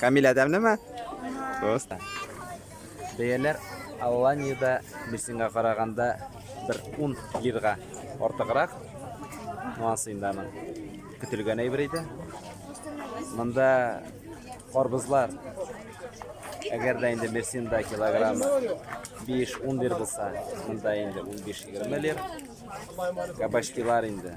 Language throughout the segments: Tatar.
Камилә тәмлеме? Просто. Бәяләр Алланиядә Мерсинга караганда бер 10 лирга артыграк. Монысы инде аның көтелгән әйбер иде. Монда карбызлар әгәр дә инде Мерсинда килограмм 5-10 лир булса, монда инде 15-20 лир. Кабачкилар инде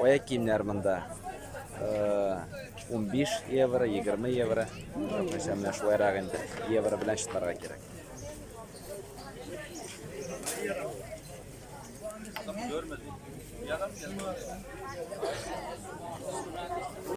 Аяк киемнәр монда 15 э, евро, 20 евро. Мәсәлән, менә шулайрак инде евро белән чыгарга кирәк. Görmedim. Yalan mı?